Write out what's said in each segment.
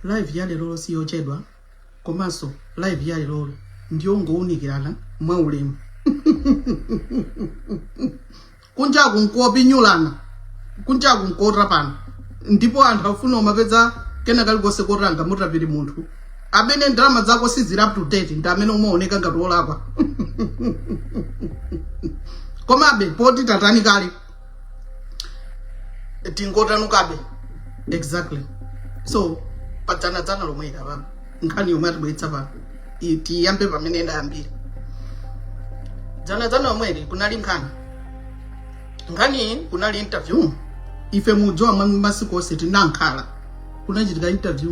live ya lero si yochedwa komanso live ya lero ndiyongounikirana mwa ulemu kunjaku nkuopinyulana kunjaku nkuotapana ndipo anthu safuna umapeza kena kalikonse kotanga mutapiri munthu amene ndalama zako siziri up to date ndi amene umaoneka ngati olakwa komabe poti tatani kale tingotanukabe exactly so padzanadzana lomweli apa nkhani yomwe atibweretsa pano i- tiyambe pamene idayambira dzanadzana lomweli kunali nkhani nkhani kunali interview ife mudziwa mwa masiku onse tinakhala kunachitika interview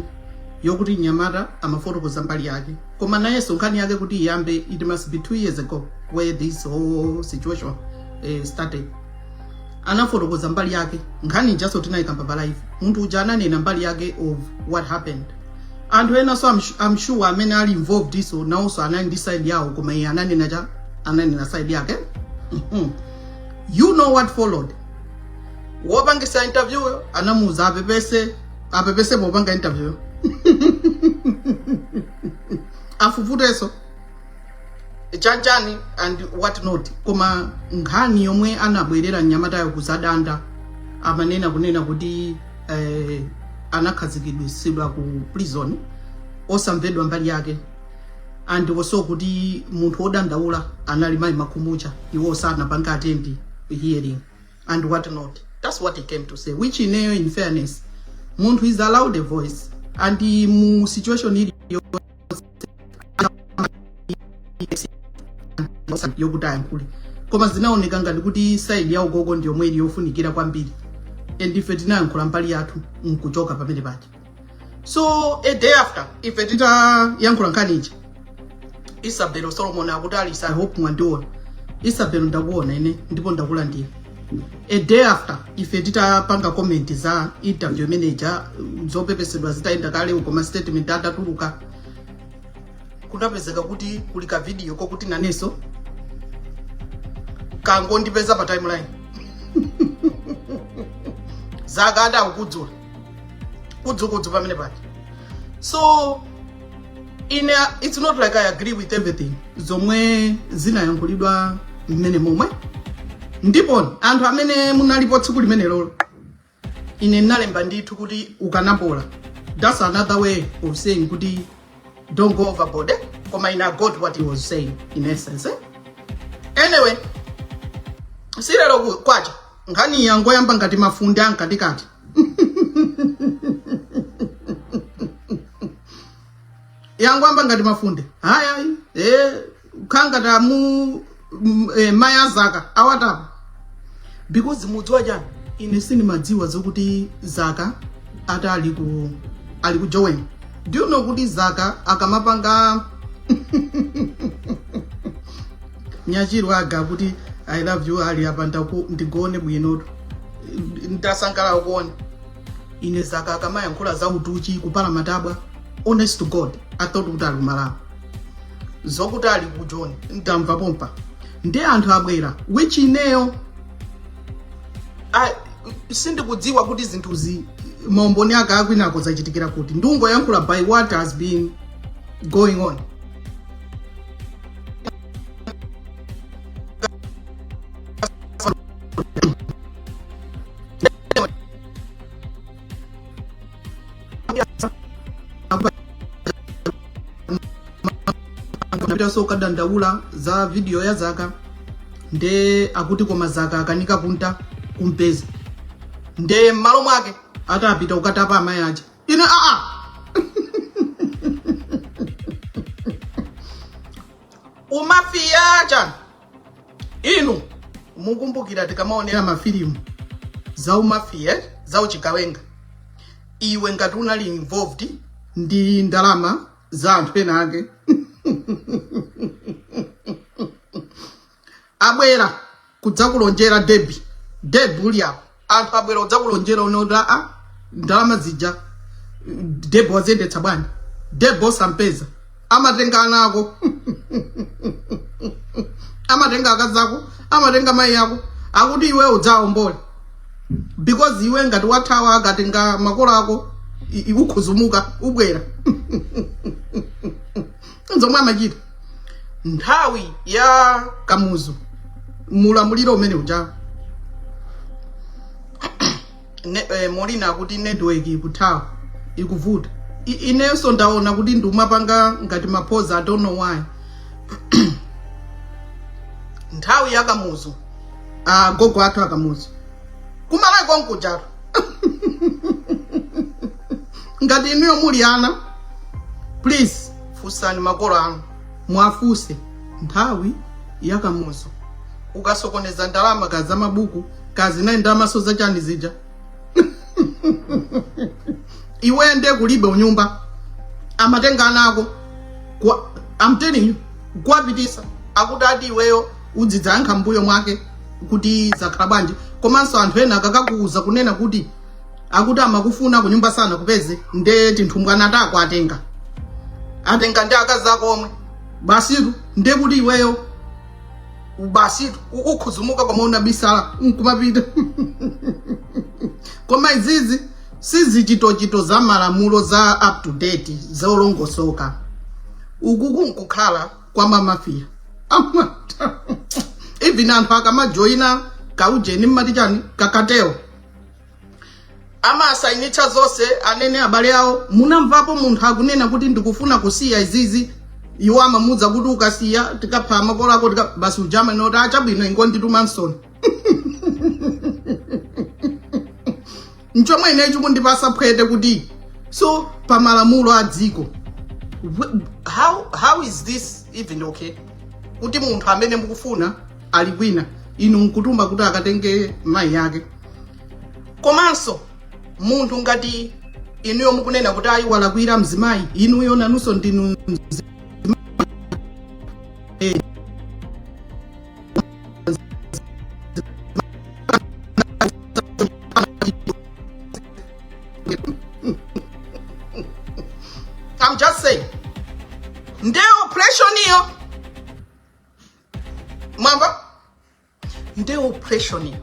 yokuti mnyamata amafotokoza mbali yake koma nayenso nkhani yake kuti iyambe it must be two years ago where this whole situation eh, started anafotokoza mbali yake nkhani ijaso tinayikamba pa live munthu uja ananena mbali yake of what happened anthu enaso I'm su- I'm sure amene ali involved wo nawonso anali ndi side yawo koma iye ananena chabe ananena side yake Mhm. you know what followed wopangitsa interview yo anamuuza apepese apepese popanga interview yo afufuteso chanchani and what not koma nkhani yomwe anabwerera mnyamatayo kuzadandaula amanena kunena kuti eh, anakhazikitsidwa ku prison osamvedwa mbali yake and also kuti munthu odandaula anali mayi makhumucha iwo sanapanga attend hearing and what not that's what he came to say which ineyo in fairness munthu is allowed a voice and mu situation ili yokuti ayankhule koma zinaoneka ngati kuti side ya agogo ndi yomwe ili yofunikira kwambiri and ife tinayankhula mbali yathu nkuchoka pamene paja so a day after ife titayankhula nkhani ija isabelo solomon akuti Alisa i hope mwandiona isabelo ndakuona ine ndipo ndakulandira a day after ife titapanga comment za interview mmene ija zopepesedwa zitayenda kale uko ma statement atatuluka kunapezeka kuti kuli ka video kokuti nanenso kangondipeza pa timeline za Kandaku kudzula kudzukudzu pamene paja so in a, it's not like i agree with everything zomwe zinayankhulidwa mmene momwemo ndipo anthu amene munalipo tsiku limenelolo ine ndinalemba ndithu kuti ukanapola that's another way of saying kuti don't go overboard eh? koma ine i got what he was saying in essence eh? anyway si lero kwacha nkhani yangoyamba ngati mafunde amkatikati yangwamba ngati mafunde ayayi e, khangata mu m- e, mayi a Zaka awatapa because mudziwa chani, ine sindimadziwa zokuti Zaka ati ali ku ali ku Joweni do you know kuti Zaka akamapanga Nyachirwa aga kuti I love you ali apa ndaku ndigone bwinotu. Ndasangala ukuona. Ine Zaka akamayankhula za utuchi kupala matabwa. Honest to God, I thought kuti ali ku Malawi. Zokuti ali ku Joni ndamva pompa. Ndi anthu abwera which ineyo I- sindikudziwa kuti zinthuzi maumboni ake akwinako zachitikira kuti ndungoyankhula by what has been going on so kadandaula za video ya Zaka nde akuti koma Zaka akanika kunta kumpeza nde mmalo mwake atapita kukatapa amayi aja Ine a a. Umafiya uja. Inu mukumbukira tikamaonera mafilimu za umafiya eh? za uchigawenga iwe ngati unali involved ndi ndalama za anthu ena ake abwera kudzakulonjera debi debi ulipo anthu abwera kudzakulonjera uone kuti aa ndalama zija debi waziyendetsa bwanji debi osampeza amatenga ana ako amatenga akazi ako amatenga mayi ako akuti iwe udzaombole because iwe ngati wathawa akatenga makolo ako i- i- ukhuzumuka ubwera nzomwe amachita nthawi ya Kamuzu mulamuliro umene uja ne, eh, Molina akuti network ikuthawa ikuvuta I- inenso ndaona kuti ndumapanga ngati maphoza i don't know why nthawi ya Kamuzu agogo athu a Kamuzu ku Malawi konkujatu ngati inuyo muli ana please funsani makolo anu mwafunse nthawi ya Kamuzu ukasokoneza ndalama ka za mabuku ka zinayi ndalamanso za chani zija iwe nde kulibe kunyumba amatenga ana ako kwa- I'm telling you kuwapitisa akuti ati iweyo udzidzayankha mbuyo mwake kuti zakhala bwanji komanso anthu ena akakakuuza kunena kuti akuti amakufuna kunyumba sanakupeze nde tinthumbwana tako atenga atenga ndi akazi ako omwe basitu nde kuti iweyo basitu u- ukhuzumuka koma unabisala nkumapita koma izizi sizichitochito za malamulo za up to date zolongosoka uku kunkukhala kwa mamafiya amati even anthu akamajoyina kaujeni, mmati chani kakateo amasainitsidwa zonse anene abale awo munamvapo munthu akunena kuti ndikufuna kusiya izizi iwo amamuuza kuti ukasiya tikaphera makolo ako tika basi ujama nkuti chabwino ingondituma nsoni chomwe ine chikundipasa phwete kuti so pa malamulo a dziko how, how is this even okay kuti munthu amene mukufuna ali kwina inu nkutuma kuti akatenge mayi yake komanso munthu ngati inuyo mukunena kuti ayi walakwira mzimayi inuyo nanunso ndinu mzi- Eh, I'm just saying. Nde oppression iyo mwamva nde oppression iyo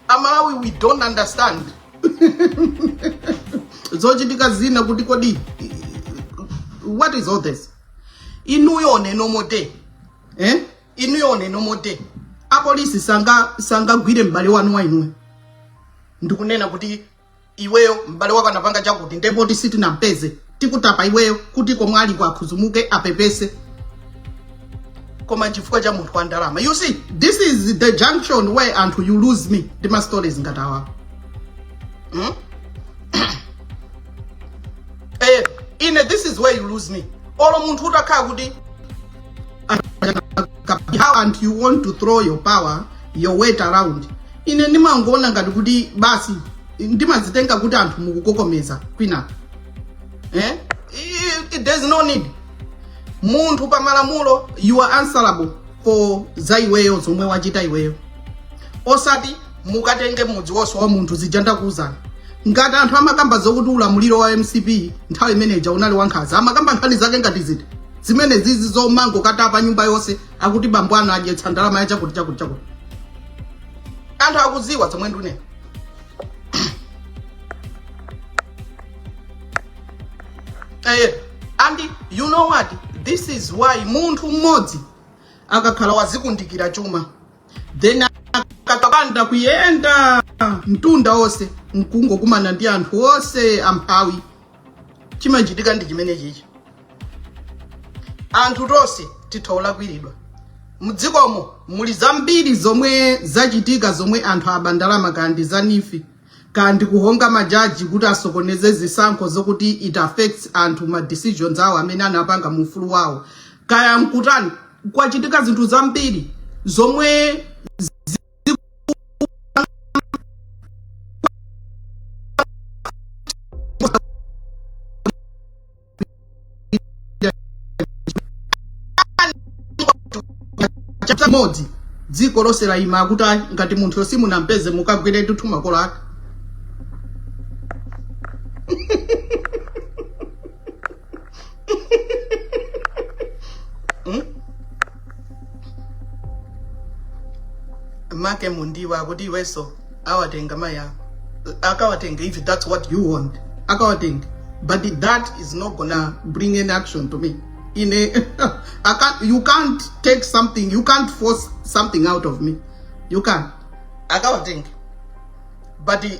amalawi we don't understand zochitika zina kuti kodi what is all this inuyo on a normal day eh? inuyo on a normal day apolisi sangagwire m'bale wanu wa inuyo ndikunena kuti iweyo m'bale wako anapanga chakuti nde poti sitinampeze tikutapa iweyo kuti komwe aliko akhuzumuke apepese koma chifukwa cha munthu wa ndalama you see this is the junction where anthu you lose me ndi ma stories ngati awa hmm? eh, ine this is where you lose me olo munthu utakhala kuti how and you want to throw your power your weight around ine ndimangoona ngati kuti basi ndimazitenga kuti anthu mukukokomeza kwinako eh? I- I- there's no need munthu pa malamulo you are answerable for za iweyo zomwe wachita iweyo osati mukatenge mudzi wonse wa munthu zija ndakuwuzani ngati anthu amakamba zokuti ulamuliro wa mcp nthawi imeneja unali wankhaza amakamba nkhani zake ngati izi zimene zizi zomangokatapa nyumba yonse akuti bambo anu adyetsa ndalama ya chakuti chakuti chakuti anthu akuziwa zomwe ndune eh, and you know what this is why munthu mmodzi akakhala wazikundikira chuma then akakapanda kuyenda mtunda wonse nkungokumana ndi anthu onse amphawi chimachitika ndi chimene chichi anthu tonse titha kulakwiridwa mdzikomo muli zambiri zomwe zachitika zomwe anthu aba ndalama kaya ndi za nif kaya ndi kuhonga majaji kuti asokoneze zisankho zokuti it affects anthu ma decisions awo amene anapanga mu ufulu wawo kaya nkutani kwachitika zinthu zambiri zomwe chimodzimodzi dziko lonse laima akuti "Ayi, ngati munthu simunampeze mukagwire ndithu makolo ake make mundiwa akuti iwenso awatenga mayi ako akawatenga if that's what you want akawatenga but that is not gonna bring any action to me in a I can't, you can't take something you can't force something out of me you can't akawatenga but i-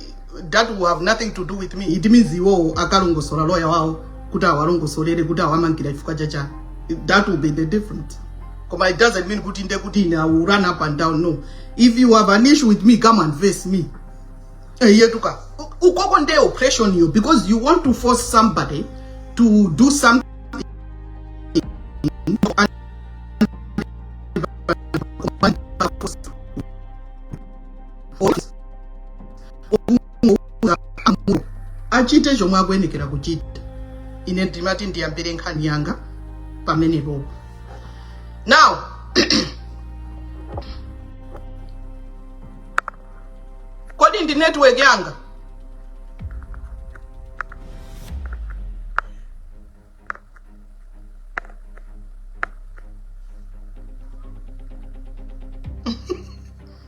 that will have nothing to do with me it means iwowo akalongosola loya wawo kuti awalongosolere kuti awamangira chifukwa chachani that will be the difference koma it doesn't mean kuti nde kuti ine i will run up and down no if you have an issue with me come and face me eyetu kumeneko nde oppression yo because you want to force somebody to do something achite chomwe akuyenera kuchita ine ndimati ndiyambire nkhani yanga pamenepopo now kodi ndi network yanga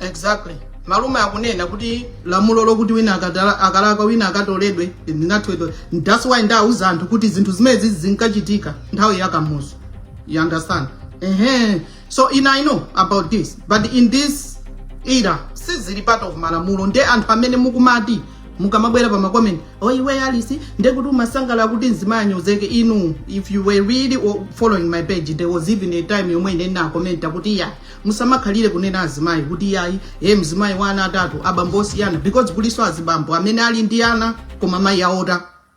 exactly malume akunena kuti lamulo lokuti wina akatala- akalakwa wina akatoledwe linatholedwa that's why ndauza anthu kuti zinthu zimenezi zinkachitika nthawi ya kamuzu you understand ehe so ine I know about this but in this era sizili part of malamulo nde anthu amene mukumati mukamabwera pa makomenti oh iwe alisi ndekuti umasangala kuti mzimayi anyozeke inu if you were really o- following my page there was even a time yomwe ine ndinakomenta kuti iyayi musamakhalire kunena azimayi kuti iyayi e mzimayi wa ana atatu abambo osiyana because kulinso azibambo amene ali ndi ana koma mayi aota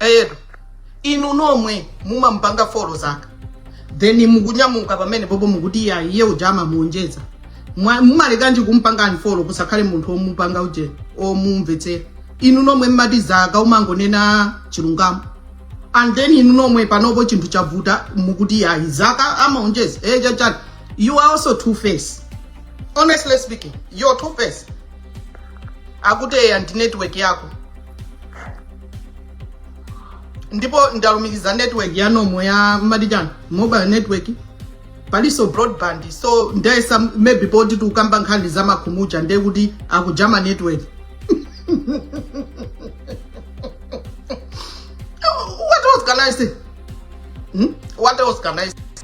eyetu inu nomwe mumampanga follow zaka then mukunyamuka pamene popo mukuti iyayi iye uja amaonjeza Mwa- mumalekanji kumpanga unfollow kusakhale munthu omupanga uje omumvetsera inu nomwe mmati zaka umangonena chilungamo and then inu nomwe panopo chinthu chavuta mukuti iyayi zaka amaonjeza e chachani You are also two-faced. Honestly speaking, you're two-faced. Akuteya ndi network yako. Ndipo ndalumikiza network ya nomo ya Madijan mobile network. Paliso broadband. So ndayesa maybe poti tukamba nkhani za makhumucha ndiye kuti akujama network. What else can I say? Hmm? What else can I say?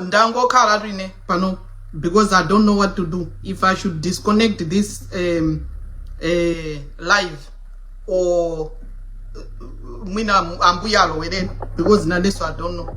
ndangokhala nda tine pano because i don't know what to do if i should disconnect this um, uh, live or uh, mwina ambuya alowerera because nandeso i don't know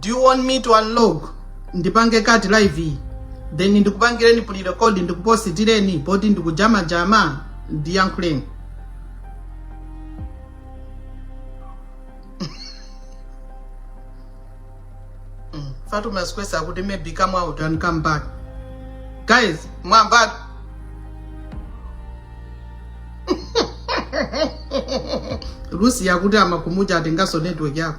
do you want me to unlog ndipange cut live iyi then ndikupangireni pre-record ndikupositireni poti ndikujamajama ndiyankhuleni Mm, Fatuma's akuti maybe come out and come back guys mwamva lusi akuti amakumvetsa atengaso network yanga